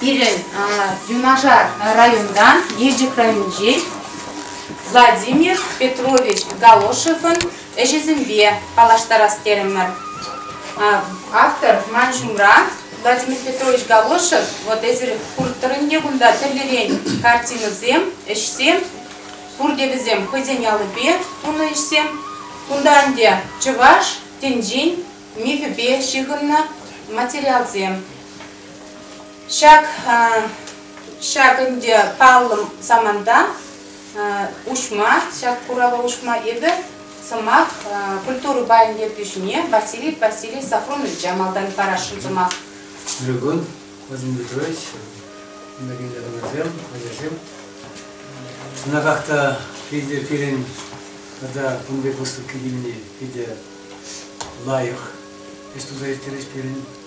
Пирӗн юнашар районтан, Елчӗк районӗнчен Владимир Петрович Галошевӑн ӗҫӗсемпе паллаштарас терӗмӗр. Автор ман ҫумра Владимир Петрович Галошев, вот эсир куртӑрӑнне кунта тӗрлӗрен картинӑсем, ӗҫсем, пурте вӗсем хӑйсен аллипе тунӑ ӗҫсем. Кунта ӗнтӗ чӑваш тӗнчин мифӗпе ҫыхӑннӑ материалсем. Ҫак ҫак ӗнтӗ паллӑ саманта уҫма, ҫак курава уҫма эпӗ сӑмах культура пайӗн ертӳҫине Василий Васильевич Сафроновича малтан парасшӑн сӑмах. Ольга Владимир Петрович, кинематографсем, ачасем. Чӑнахах та питӗ пирӗн тата кун пек выставка килни питӗ лайӑх ӗҫ туса ирттерет пирӗн.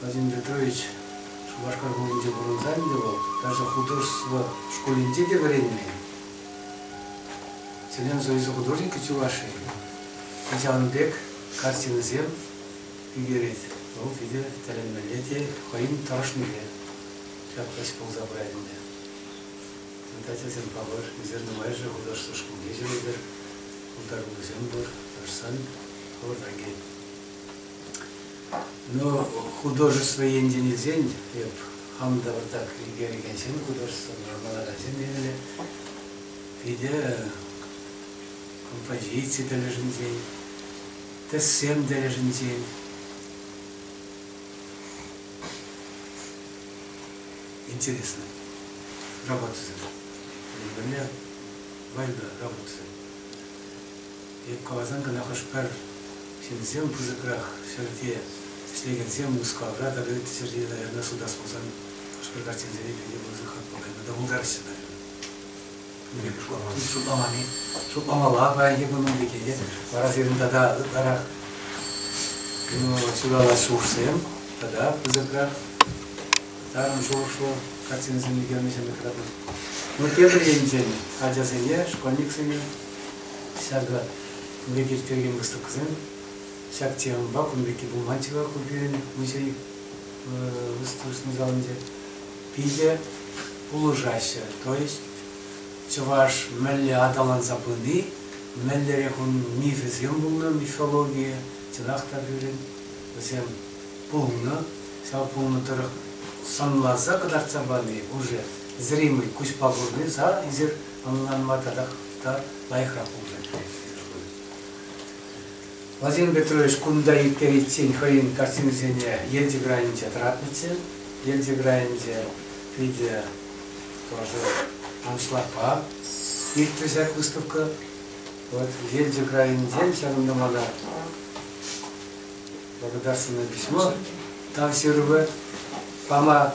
Владимир Петрович Шупашкар хулинче пурӑнса ӗнтӗ вӑл. Даже художество шкулӗнче те вӗренмен. Селен Союзӗ художникӗ чуваши. Ачан пек картинӑсем ӳкерет. Вӑл питӗ тӗлӗнмелле те хӑйӗн тӑрӑшнипе ҫапкаҫ пулса пырать ӗнтӗ. Ачасем палӑр, ӳсер нумайӑшӗ художество шкулне ҫӳретӗр, пултаруллисем пур, тӑрӑшсан хӑвӑрта кӗт. Ну, художество енчен илсен, эп хам та выртак йӗркелекенсем художествӑлла вулакансем темелле. Питӗ композици тӗлӗшӗнчен, тӗссем тӗлӗшӗнчен. Интересно. Работа. Более важная работа. Эп каласан кӑна хӑш-пӗр ҫынсем пысӑкрах ҫӗрте ӗҫлекенсем Мускавра тата ытти ҫӗрте, района сутас пулсан хӑш-пӗр картинсене пире пысӑк хак пухать. Тата пултараҫҫӗ, наверное. Шутламани. Шутламалла паянхи кун пирки вара сирӗн тата ытларах чудалас ҫулсем тата пысӑкрах тарӑн шухӑшлӑ картинӑсем ӳкернӗ ҫемӗт тӑратнӑ. Ну, тепӗр енчен ачасене, школьниксене Ҫакӑ пурте ирттерекен выставкӑсем. Ҫак темӑпа кун пекки пулман-чӗ-ха ку пирӗн музей выставочнӑй залӗнче. Питӗ пулӑшаҫҫӗ. То есть чӑваш мӗнле аталанса пыни, мӗнлерех ун мифӗсем пулнӑ мифологие, чӑнах та пирӗн вӗсем пулнӑ. Ҫав пулнӑ тӑрӑх сӑнласа кӑтартса пани уже зримый куҫпа курни, са эсир ӑнланма татах та лайӑхрах пулса килет. Владимир Петрович кунта ирттериччен хӑйӗн картинисене Елчӗк районӗнче тӑратнӑччӗ. Елчӗк районӗнче питӗ тоже аншлagпа иртрӗ ҫак выставка. Вот Елчӗк районӗнчен ҫавӑнта мана благодарственное письмо тав ҫырӑвӗ пама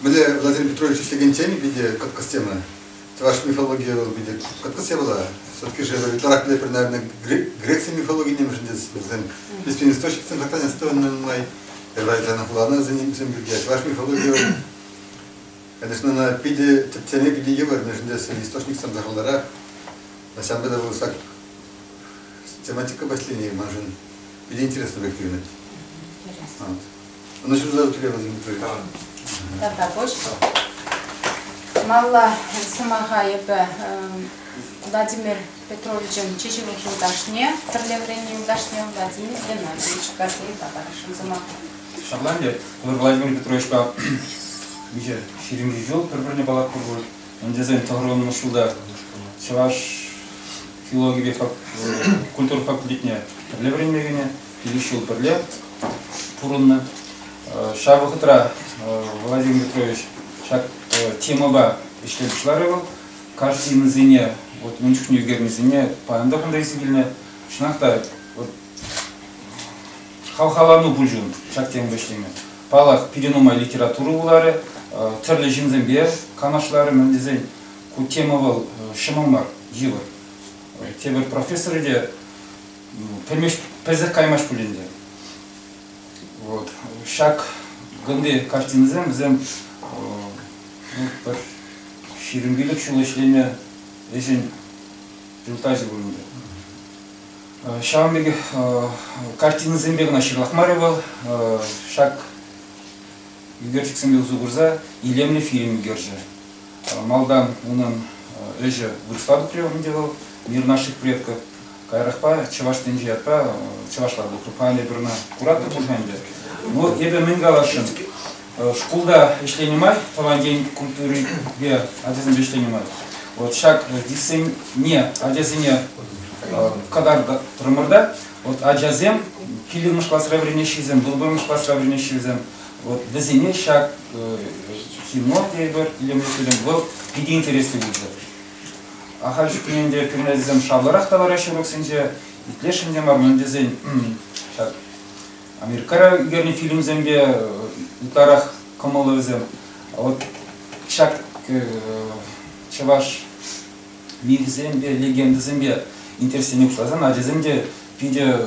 Мӗнле Владимир Петрович ӗҫлекенсен питӗ кӑткӑс тема. Чӑваш мифологийӗ вӑл питӗ кӑткӑс явӑла. Все-таки же ытларах пӗлетпӗр, наверное, Греции мифологине мӗншӗн вӗсем песен источниксем сахалран астӑвӑннӑ нумай. Евразиянӑн хуланӑсенчен вӗсем пирки. Чӑваш мифологийӗ вӑл, конечно, она питӗ тӗпчеме питӗ йывӑр, мӗншӗн тесен источниксем сахалрах. На самом деле вӑл так тематика последней маншӑн питӗ интересно объективно. Вот. Ӑна ҫырса тӳре вӗсем Виктория. Тата пуҫ. Малла сӑмаха эпӗ Владимир Петровичӑн чи ҫывӑх юлташне, пӗрле вӗреннӗ юлташне Владимир Геннадьевич Гордеева парасшӑн сӑмаха. Шотландия Владимир Петровичпа виҫӗ ҫирӗмҫӗ ҫул пӗр-пӗрне паллатпӑр пуль. Ун тесен тӑхӑрвуннӑмӗш ҫулта чӑваш филологипе культура факультетне пӗрле вӗренме кӗнӗ. пилӗк ҫул пӗрле пурӑннӑ. Ҫав вӑхӑтра Владимир Петрович ҫак темӑпа ӗҫле пуҫларӗ вӑл. Картинӑсене, вот мӗн чухне ӳкернисене паян та кунта илсе килнӗ. Чӑнах та, вот хавхалану пулчӗ ун ҫак темӑпа ӗҫлеме. Паллах, пире нумай литература вуларӗ, тӗрлӗ ҫынсемпе канашларӗ мӗн тесен. Ку тема вӑл ҫӑмӑл мар, йывӑр. Тепӗр профессорӗ те пӗлмеҫ пӗлсех каймасть пуль ӗнтӗ. Вот. Ҫак кунти картинӑсем вӗсем ну, пӗр ҫирӗм пилӗк ҫул ӗҫлеме ӗҫӗн результачӗ пулнӑ. Ҫавӑн пекех картинӑсемпе кӑна ҫырлах мар вӑл, ҫак ӳкерчӗксемпе усӑ курса илемлӗ фильм ӳкерчӗ. Малтан унӑн ӗҫӗ вырӑсла тухрӗ ӗнтӗ вӑл Мир наших предков. Каярахпа Чӑваш тӗнчи ятпа чӑвашла вултрӑм. Анне пурна куратӑр пуль ӗнтӗ. Ну, эпӗ мӗн каласшӑн. Шкулта ӗҫленӗ май тӑван ен культурипе ачасемпе ӗҫленӗ май вот ҫак десене ачасене кӑтартрӑмӑр та вот ачасем килӗмӗш класра вӗренеҫҫисем, вырвӑмӗш класра вӗренеҫҫисем вот вӗсене ҫак кино тейӗпӗр илемлӗ фильм вӑл питӗ интереслӗ пулчӗ. Ахаль чухнехинче кӗмӗлӗсем шавлӑрах та лараҫҫӗ боксенче. Итлесшӗн те мар, мӗн тесен ҫак Америкара ӳкернӗ фильмсемпе ытларах кӑмӑллӑ вӗсем. А вот ҫак чӑваш мифӗсемпе, легендӑсемпе интереслене пуҫласан ачасем те питӗ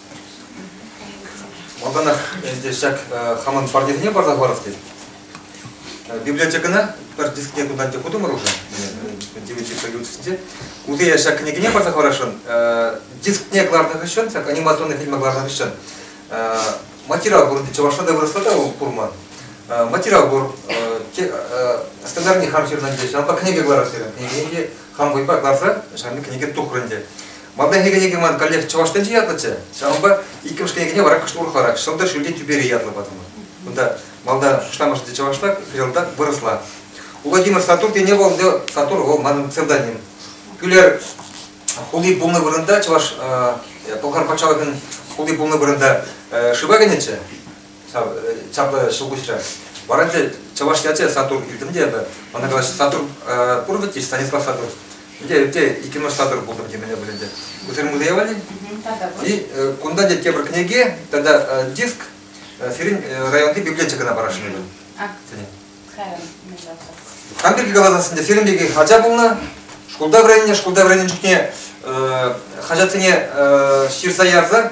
Малтанах ӗнтӗ ҫак хамӑн квартирне парса хӑварас тет. Библиотекӑна пӗр дискне кунтан те хутӑмӑр уже, девяти каютисенче. Уйти я ҫак кӗнекене парса хӑварасшӑн. Дискне кӑларнӑ хыҫҫӑн, ҫак анимационный фильма кӑларнӑ хыҫҫӑн материал пурӑнды Чавашада выросла та курман. Материал пур, стандартный хам ҫырнӑ ҫавӑнпа кӗнеке кӑларас терӗм. Кӗнекене хам вӑйпа кӑларса ҫавӑн кӗнеке тухрӑн те. Малтанхи кӗнеке ман коллег чӑваш тӗнчи ятлӑччӗ, ҫавӑнпа иккӗмӗш кӗнекене вара кӑшт урӑхларах Сӑлтӑр ҫӳлти тӳпери ятлӑ патӑмӑр. Кунта малта шутламӑшӗ те чӑвашла, хыҫалта вырӑсла. Владимир Сатур тене вӑл Сатур вӑл манӑн псевдоним. Кӳлер хули пулнӑ вырӑнта чӑваш Пӑлхар патшалӑхӗн хули пулнӑ вырӑнта шыва кӗнӗччӗ. Ҫапла ҫӑлкуҫрӗ. Вара те чӑваш ячӗ Сатур илтӗм те эпӗ. Мана калаҫ, Сатур пур вӗт-и? Станислав Сатур. Ӗнтӗ эпте иккӗмӗш Сатур пултӑм темене вӗлӗнчӗ. Усырмуллие валли? И кунта те тепӗр кӗнеке тата диск сирӗн районти библиотека кӑна парасшӑн эпӗ. Хам пирки каласан, сирӗн пирки хаҫа пулнӑ. Шкулта вӗреннӗ, шкулта вӗреннӗ чухне хаҫатсене ҫырса ярса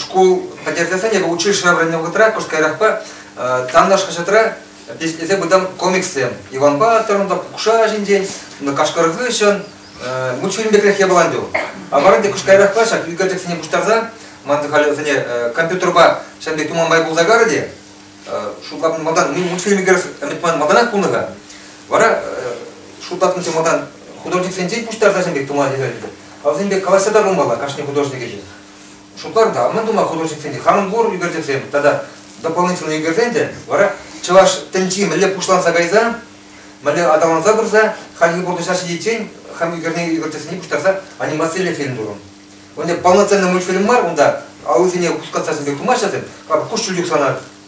шкул пӗтерсен эпӗ училищӗра вӗреннӗ вӑхӑтра кӑшт каярахпа танташ хаҫатра тислесе пытам комикссем Иван Баторӑн та Кукша ҫинчен Кашкӑр хыҫҫӑн мультфильм пекрех япалан ту. А вара те кӑшт каярахпа ҫак ӳкерчӗксене пуҫтарса ман халӗ вӗсене компьютерпа ҫав пек туманбай пулса карӗ те шутлатнӑ малтан мин мультфильм ӳкерес ӗмӗтман малтанах пулнӑ-ха. Вара шутлатнӑ малтан художниксенчен пуҫтарса ҫав пек туман ӳкерчӗксем. А вӗсем пек калаҫса та пулмалла кашни художник ӗҫе. Шутларӑм-та, мӗн тума художниксем те, хамӑн пур ӳкерчӗксем тата дополнительные ӳкерсем те, вара чӑваш тӗнчи мӗнле пуҫланса кайса, мӗнле аталанса пырса, хальхи пурнӑҫа ҫитиччен хам ӳкерне ӳкерчӗксене пуҫтарса анимацилле фильм турӑм. Унде полноценный мультфильм мар, унта аллисене хускатса пек тумаҫҫӗ, куҫҫуль юхсанах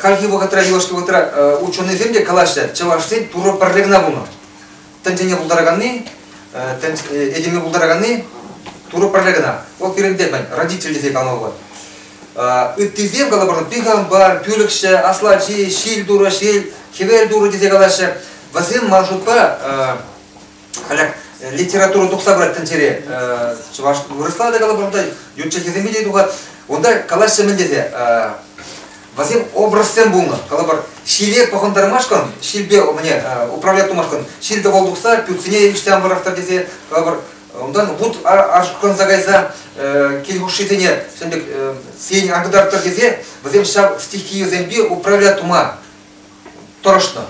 Хальхи вӑхӑтра юлашки вӑхӑтра ученӑйсем те калаҫҫӗ, чӑвашсен Турӑ пӗрле кӑна пулнӑ. Тӗнчене пултараканни, этеме пултараканни Турӑ пӗрле кӑна. Вӑл пирӗнте, мӗн, родитель тесе калама пулать. Ыттисем калӑпӑр, пихампар, пӳлӗхҫӗ, аслати, ҫил турӑ, ҫил, хӗвел турӑ тесе калаҫҫӗ. Вӗсем, ман шутпа, Халӗ литературӑн тухса пырать тӗнчере. Чӑваш вырӑсла та калӑпӑр, унта ют чӗлхесемпе те тухать. Унта калаҫҫӗ мӗн тесе? Васем образсем пулнӑ. Калӑпӑр, ҫиле пӑхӑнтармашкӑн, ҫилпе мӗне управлять тумашкӑн ҫил тӑвӑл тухса пӳртсене ӳссе пӑрахтар тесе, калӑпӑр, унтан вут ашкӑнса кайса кил хушшисене ҫын пек сиен антарттар тесе вӗсем ҫав стихийӗсемпе управлять тума тӑрӑшнӑ.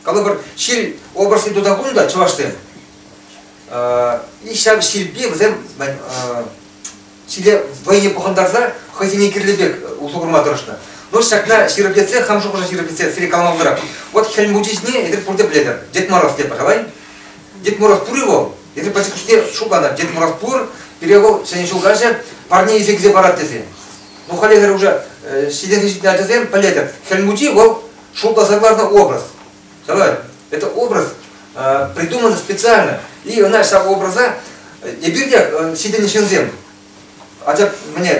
Калӑпӑр, ҫил области тута пулнӑ та чӑвашсем. И ҫав ҫилпе вӗсем ҫиле вӑййи пӑхӑнтарса хӑйсене кирлӗ пек усӑ курма тӑрӑшнӑ. Но ҫакна ҫирӗплетсе, хам шухӑша ҫирӗплетсе сире калама пултарам. Вот Хӗл Мучи ҫине эсир пурте пӗлетӗр. Дед Мороз те, пожалуй. Дед Мороз пур-и вӑл? Эсир пӗчӗк чухне шутланӑр. Дед Мороз пур, пире вӑл ҫӗнӗ ҫул каҫӗ парне илсе килсе парать тесе. Но халӗ эсир уже ҫитӗнсе ҫитнӗ ачасем пӗлетӗр. Хӗл Мучи вӑл Шута согласно образ. Согласен? Это образ э, придуман специально. И она ҫав образа эпирте ҫитӗннӗ ҫынсем. Анчах мне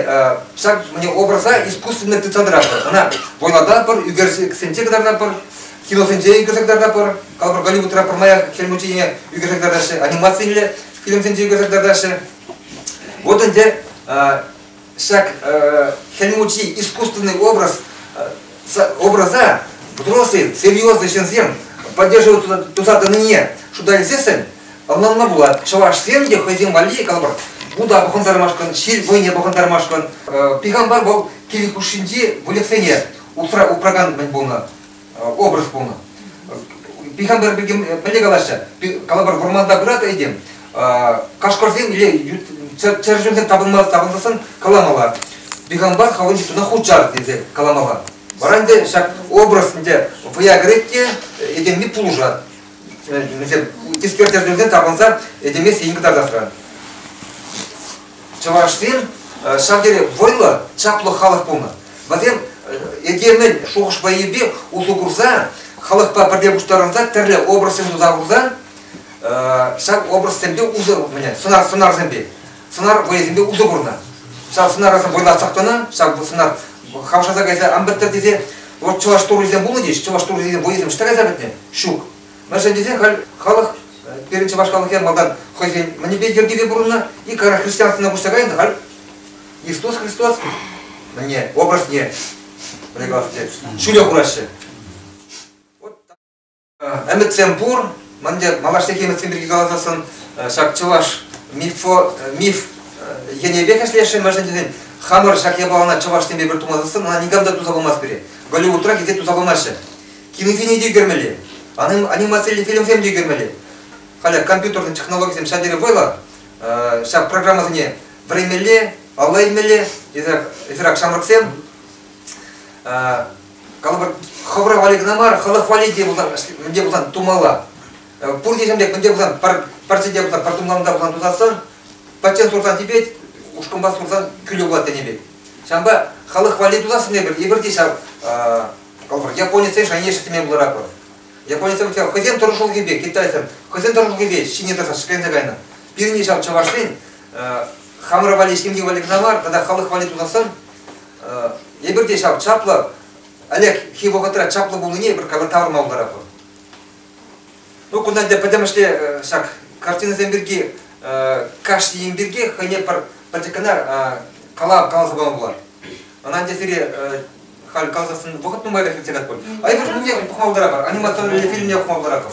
ҫак мне образа искусственный тетрадра. Она войладапӑр, ӳкерсенче кӑтартапӑр, киносенче ӳкерсе кӑтартапӑр, калпӑр Голливудра пӗрмаях хӗл мучине ӳкерсе кӑтартаҫҫӗ, анимацилле фильмсенче ӳкерсе кӑтартаҫҫӗ. Вот ӗнтӗ Ҫак Хӗл Мучи искусственный образ, образа взрослые, серьезные ҫынсем поддерживают туса тӑнине шута илсессӗн ӑнланма пулать. Чӑвашсем те хӑйсем валли, калӑпӑр, Буда пӑхӑнтармашкӑн, ҫил вӑйне пӑхӑнтармашкӑн, пиканпа вӑл кил хушшинчи выльӑхсене усра упракан мӗн пулнӑ. образ пулнӑ. Пихампер пекем пӗлте калаҫҫӗ. Калӑпӑр вӑрманта пырат этем кашкӑрсем или чӗрчунсем тапӑнсассӑн каламалла. Пихампар хавӑн ҫутӑна хучар тесе каламалла. Вара ӗнтӗ ҫак образ ӗнтӗ вӑя кӗрет те этемми пулӑшать. вӗсем тискер тӗртӗнсе тапӑнса этемессӗ ин кӑтартасран. Чӑвашсен ҫав тери вӑйлӑ, чаплӑ халӑх пулнӑ. Вӗсем этемӗн шухӑш-вӑйӗпе усӑ курса, халӑхпа пӗрле пуҫтарӑнса тӗрлӗ образсем туса хурса ҫав образсемпе усӑ курнӑ сӑнарсемпе. сӑнар вӑйӑсемпе усӑ курнӑ. Ҫав сӑнарӑсем вӑйлатсах тӑнӑ, ҫав сӑнар хавшаса кайса ан пӗттӗр тесе вот чӑваш туррисем пулнӑ те чӑваш туррисен вӑйӑсем ҫитсе кайса пӗтнӗ, ҫук. Мӗншӗн тесен халь халӑх пирӗн чӑваш халӑхӗ малтан хӑйсен мӗнпе йӗркипе пурӑннӑ, иккара христианствӑна куҫса кайнӑ, халь Иисус Христос мӗне образне прекрасне ҫӳле хураҫҫӗ. Ӗмӗтсем пур. Мӗн те малашнехи ӗмӗтсем пирки каласассӑн ҫак чӑваш мифо, миф енӗпех ӗҫлесшӗн, мӗншӗн тесен хамӑр ҫак япалана чӑвашсемпе пӗр тумасассӑн ӑна никам та туса пымасть пире. Голливудра килте туса пымаҫҫӗ. Кинофильм те ӳкермелле, анимациллӗ фильмсем те ӳкермелле. Халӗ компьютерный технологисем ҫав тери вӑйлӑ. Ҫак программӑсене вӗренмелле, алла илмелле, эсир ак ҫамрӑксем. калӑпӑр хӑвӑра вали кӑна мар хӑлӑх вали те пулсан мӗнте пулсан тумалла пурте ҫемдек мӗнте пулсан парчӗте пулсан портумланта пулсан тусатсан патчен сурсан типет ушкӑнпа сурсан кӳлӗ пулать тенӗ пек ҫавӑнпа халӑх валли тусассӑн эпир эпир те ҫав калӑпӑр японецсен шаньешӗ теме пуларапӑр японецсем хӑйсен тӑрӑшулӑхӗпе китайсем хӑйсен тӑрӑшулӑхӗпе ҫине тӑрса шикленсе кайнӑ пирӗн ҫав чӑвашсен хамӑр валли ҫемье валли кӑна мар тата халӑх валли тусассан Эпир те ҫав чаплӑ, Олег хи вӑхӑтра чаплӑ пулнине эпир кавер тавӑрма пултаратпӑр. Ну, кунта ӗнтӗ пӗтӗмӗшле ҫак картинӑсем пирки, кашни ен пирки хӑйне пӗр пӗчӗк кӑна калав каласа пама пулать. Ӑна ӗнтӗ сире халь каласассӑн вӑхӑт нумайлӑх иртсе катпӑр. А эпир пухма пултаратпӑр, анимационный фильмне пухма пултаратпӑр.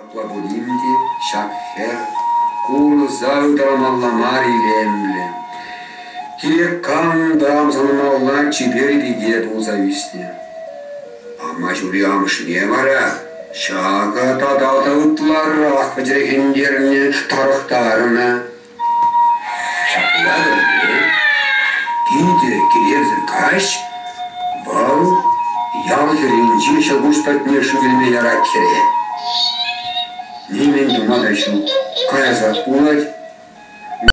Апла пулин те ҫак хӗр курса ытарамалла мар илемлӗ. Кирек камӑн та ӑмсанмалла чипер пике пулса ӳснӗ. Амаҫури амӑшне вара ҫакӑ тата та ытларах пӗчӗрхентернӗ, тарӑхтарнӑ. Ҫапла вӗрме питӗ килесӗр каҫ вӑл ял хӗрринчи ҫӑлкуҫ патне шыв илме ярать хӗре. Нимӗн тума та ҫук. Каясах пулать.